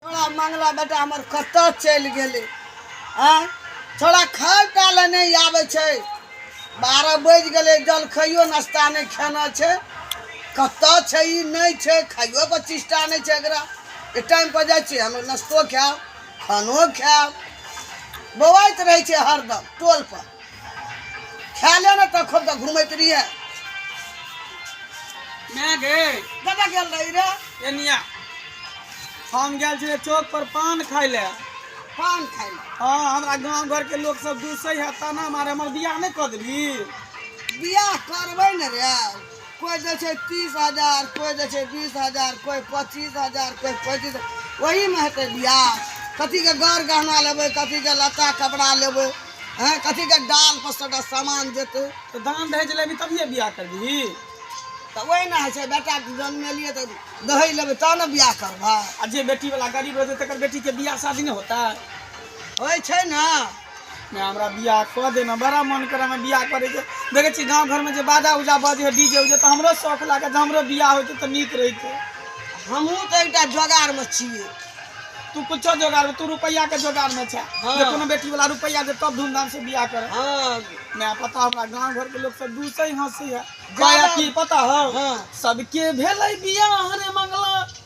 छोड़ा मंगला बेटा हमर कतऽ चलि गेलै आँय छोड़ा खाय टा लए नहि आबै छै बारह बाजि गेलै जलखैयो नाश्ता नहि खेना छै कतऽ छै ई नहि छै खाइयो के चेष्टा नहि छै एकरा एक टाइम पर जाइ छियै हम नाश्तो खायब खानो खायब बौआइत रहै छै हरदम टोल पर खा ले ने तखन तऽ घुमैत रहिए मैं गए कतऽ गेल रही रे एनिया हम गेल छलियै चौक पर पान खाय ले पान खाय ले हाँ हमरा गांव घर के लोग सब दूसै है ताना मारे हमर बियाह नहीं कर देबी बियाह करबै ने रे कोइ दै छै तीस हजार कोइ दै छै बीस हजार कोइ पच्चीस हजार कोइ पैंतीस ओहीमे हेतै बियाह कथीके गौर गहना लेबै कथीके लत्ता कपड़ा लेबै हँ कथीके डाल पर सभटा सामान जेतै तऽ दान दहेज लेबही तभिए बियाह करबिही तऽ ओहिना होइ छै बेटा जन्मेलियै तऽ दहेज लेबै तब ने बियाह करबै आ जे बेटी वाला गरीब रहतै तकर बेटी के बियाह शादी नहि होता होइ छै ने नहि हमरा बियाह कऽ देना बड़ा मन करे हमरा बियाह करे के देखे छी गांव घर में जे बाजा उजा बजे है डीजे उजे तो हमरो शौक लागे जे हमरो बियाह होते तो नीक रहते हमहूँ तऽ एकटा जोगाड़मे छियै तू कुछो जोगाड़ में, तू रुपया के जोगाड़ में छे हाँ। जे कोनो बेटी वाला रुपया दे तब धूमधाम से बियाह करे हँ ना पता हमरा गांव घर के लोग सब दूसरे ही हंसी है जादा- काहे की पता हो हाँ। सबके भेलै बियाह रे मंगला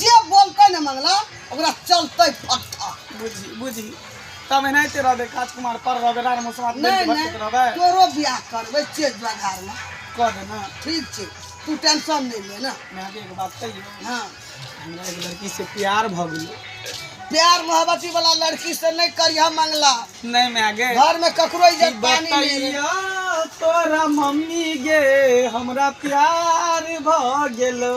जे बोलतै ने मंगला ओकरा चलतै फट्ठा बुझी बुझी तब एनाहिते रहबै काज कुमार पर रहबै रार मौसमात बनि नहि कऽ भटकैत नहि रहबै तोरो बियाह करबै चेत बघारमे कऽ दे ने ठीक छै तू टेंशन नहि ले ने मैं आगे एगो बात कहियो हाँ हमरा एगो लड़की से प्यार भऽ गेलै प्यार मोहब्बती वाला लड़की से नहीं करिह मंगला नहि मैं आगे घर में ककरो इज्जत पानी नहीं है। बतैया तोरा मम्मी गे हमरा प्यार भऽ गेलो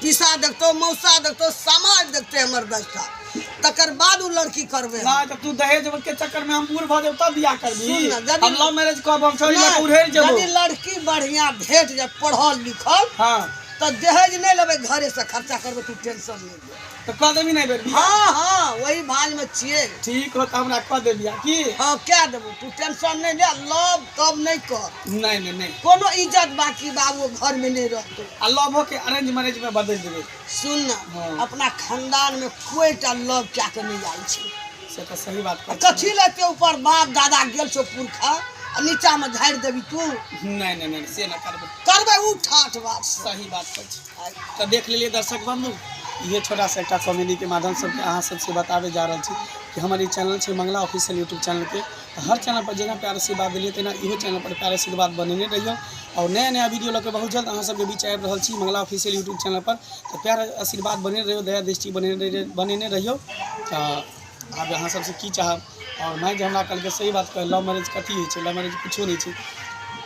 पिसा देखतौ मौसा देखतौ समाज देखतै हमर दशा तकर बाद ओ लड़की करबै हम। ना तो तू दहेज के चक्कर में हम बूढ़ भ जाऊ तब बियाह करबी सुन ना, जदी- हम लव मैरिज करब हम छोरी लग उड़ेर नहीं, जबो यदि लड़की बढ़िया भेट जाए पढ़ल लिखल हां तो दहेज नहीं लेबै घरे से खर्चा करबै तू टेंशन नहीं ले तो कह देबी नहीं बेबी हाँ हाँ वही भाज में छिए ठीक हो तो हमरा कह दे बियाह की हाँ क्या देबू तू टेंशन नहीं ले लव तब नहीं कर नहि नहि नहि कोनो इज्जत बाकी बाबू घर में नहीं रहते आ लव के अरेंज मैरिज में बदल देवे सुन ना हाँ। अपना खानदान में कोई टा लव क्या के नहीं आयल छै से तो सही बात आ कथी ले ते ऊपर बाप दादा गेल छो पुरखा आ नीचा में झाड़ि देबी तू नहीं नहीं नहीं से ना करबे करबे उ ठाठ बात से। सही बात छै आ तो देख लेलिए दर्शक बंधु ये छोटा सा एक कॉमेडी के माध्यम से अहाँ सबसे बताबे जा रहल छी कि हमर ई चैनल छै मंगला ऑफिशियल यूट्यूब चैनल के तऽ हर चैनल पर जेना प्यार आशीर्वाद देलियै तेना इहो चैनल पर प्यार आशीर्वाद बनेने रहियौ आओर नया नया वीडियो लऽ के बहुत जल्द अहाँ सबके बीच आबि रहल छी मंगला ऑफिशियल यूट्यूब चैनल पर तऽ प्यार आशीर्वाद बनेने रहियौ दया दृष्टि बनेने रहि- बनेने रहियौ तऽ आब अहाँ सबसे की चाहब आओर माय जे हमरा कहलकै सही बात कहल लव मैरिज कथी होइ छै लव मैरिज किछो नहि छै